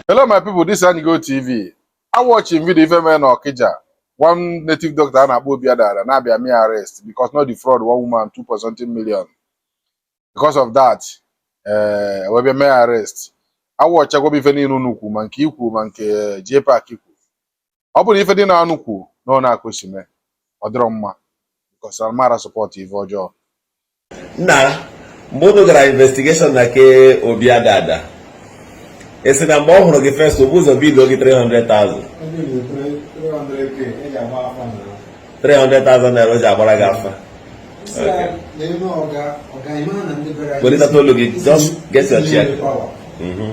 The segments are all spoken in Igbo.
Hello my people, this is Anyigo TV. Awọchị m video ife mere na Okija. One native doctor a na-akpọ Obi Adada na-abịa mee arrest because na ọ defraud one woman 2 point something million. Because of that, eh, wee bịa mee arrest. Awọchakwa m ife niile unu kwu ma nke i kwu ma nke JPAC kwu. ọ bụrụ na ife ndị a unu kwuu na ọnaa ka o si mee ọ dịrọ mma because amara support ife ọjọọ nna mgbe unu gara investigeshọn na nke Obi Adada e si na mgbe ọ hụrụ gị first o bu ụzọ bido gị 300,000 300,000 naira o ji agbara gị afa welitata olu gị just get your chair. Mm-hmm.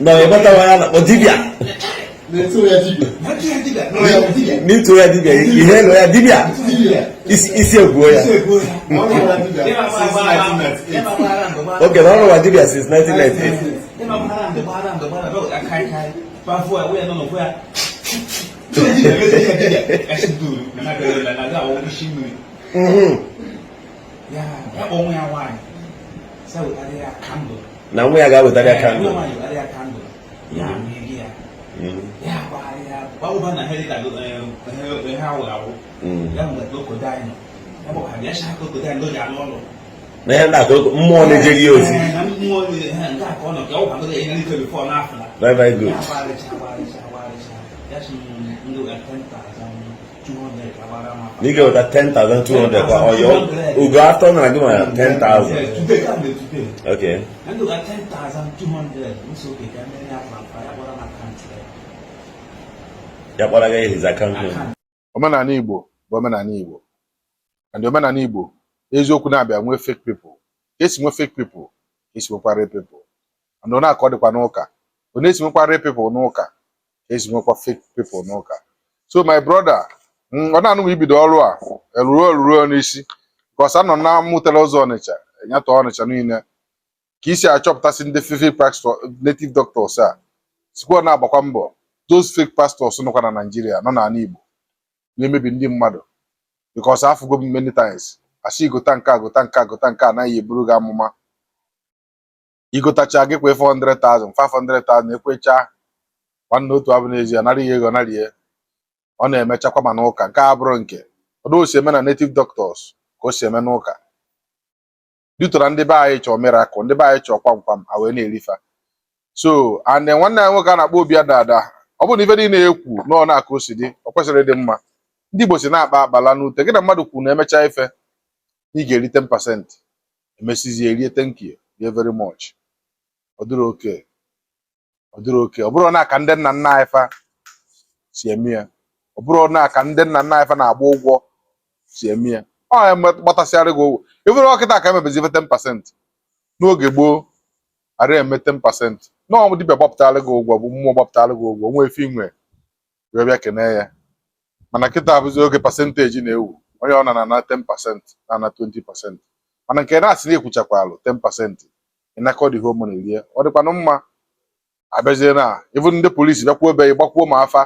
na ịgbatawa ya na dibịa n'ịtụ ya dibịa ihe nọ ya dibịa isi egbuo ya oke na ọ rụwa dibịa since 1998 ya kpọnwụ ya nwaanyị sị wetara ya kandụl na nwa ya ga-awetara ya kandụl na ya na-akụ mmụọ na-ejeri ya ozi very very good Na ị ga-eweta 10,200 kwa oyo. Ugo after na gima 10,000. Okay. Nando ga 10,200. Muso ke ga ne ya kwa ya kwa na account. Ya kwa ga his account. Omenala Igbo bụ omenala Igbo. And omenala Igbo eziokwu na-abịa nwee fake people. Esi nwee fake people, esi nwekwa real people. And ọnaa ka ọ dịkwa n'ụka. Ọ na-esi nwekwa real people n'ụka. ka e si nwekwa fake people n'ụka so my brother mm, ọ na-anụghị ibido ọrụ a eruo eruo n'isi because anọ na mụtara ụzọ Ọnịcha nyata Ọnịcha niile ka i si achọpụtasị ndị fake pastor native doctors a sikwa na-agbakwa mbọ those fake pastors nọkwa na Naịjirịa nọ n'ala Igbo na-emebi ndị mmadụ because afụgo m many times a sị gota nke a gota nke a gota nke a a na-eburu gị amụma igotacha gị kwa 400,000 500,000 ekwecha nwanne otu abụ n'ezie nara ihe ego nara ihe ọ na-emechakwa ma n'ụka nke a bụrụ nke otu o si eme na native doctors ka o si eme n'ụka due to na ndị be anyị chọọ miracle ndị be anyị chọọ kwamkwam a wee na-eri fa so and then nwanne anyị nwoke a na-akpọ Obi Adada ọ bụrụ na ife niile e kwu na ọnaa ka o si dị ọ kwesịrị ịdị mma ndị Igbo sị na a kpaa akpa a laa n'ute gị na mmadụ kwuru na emechaa ife na ị ga-eri 10% emesizie rie thank you rie very much ọ dịrọ okay ọ dịrọ okay ọ bụrụ na ka ndị nna nna anyị fa si eme ya ọ bụrụ na ka ndị nna nna anyị fa na-agba ụgwọ si eme ya ọ ya eme- gbatasịara gị ụgwọ i buru ọ kịta ka e mebezi ife 10 pasent n'oge gboo ara eme 10 pasent na ọ dibịa gbapụtara gị ụgwọ bụ mmụọ gbapụtara gị ụgwọ wee ife i nwe wee bịa kenee ya mana kịta abụzi oge pasenteji na-ewu onye ọ na na 10 pasent na na 20 pasent mana nke na-asị na ị kwụchakwalụ 10 pasent ị nakọdị home na erie ọ dịkwanụ mma a bịazie na-ebu ndị polisi bịakwuo be gbakwuo ma afa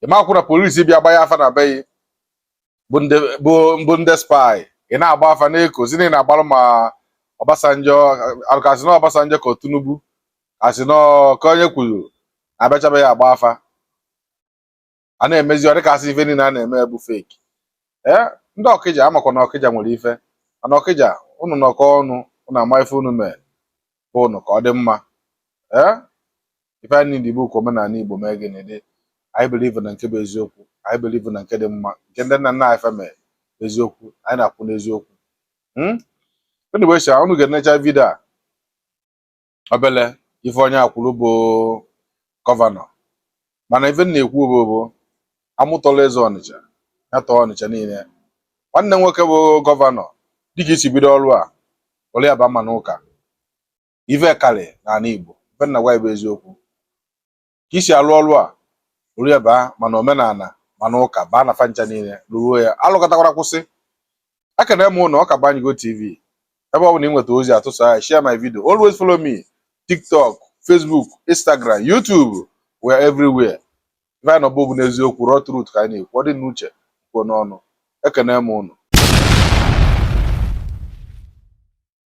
ị makwụ na polisi bịa gbanye afa na be bụ ndị spy ị na-agba afa na-ekozi na ị na-agbalụ ma Obasanjo ka asị na Obasanjo ka Tinubu ka asị na ka onye kwuru abịachabeghị agba afa a na-emezi ọ dịka asị ife niile a na-eme bụ fake ee ndị Ọkịja a makwa na Ọkịja nwere ife mana Ọkịja ụnụ nọkọ ọnụ ụnụ ama ife ụnụ mee be ụnụ ka ọ dị mma ee ife anyị niile bụ ka omenala Igbo mee gịnị dị anyị believe na nke bụ eziokwu anyị believe na nke dị mma nke ndị nna nna anyị fa mee eziokwu anyị na-akwụ n'eziokwu hmm? anyway sha unu ga-enecha vidio a obele ife onye a kwuru bụ gọvanọ mana ife m na-ekwu bụ amụ tọla eze Ọnịcha ya tọọ Ọnịcha niile nwanne nwoke bụ gọvanọ dịka i si bido ọrụ a rụọ ya ba ma n'ụka ife karị n'ala Igbo ife m na-agwa bụ eziokwu ka i si alụ ọrụ a rụrụ ya baa ma n'omenala ma n'ụka baa na fa ncha niile rụruo ya alụkatakwara kwụsị ekene m ụnụ ọka banyigo tv ebe ọ bụla ị nweta ozi a tụsa ya share my video always follow me tiktok facebook instagram youtube we are everywhere ife anyị nọbụ bụ n'eziokwu raw truth ka anyị na-ekwu ọ dị n'uche kwuo n'ọnụ ekene m ụnụ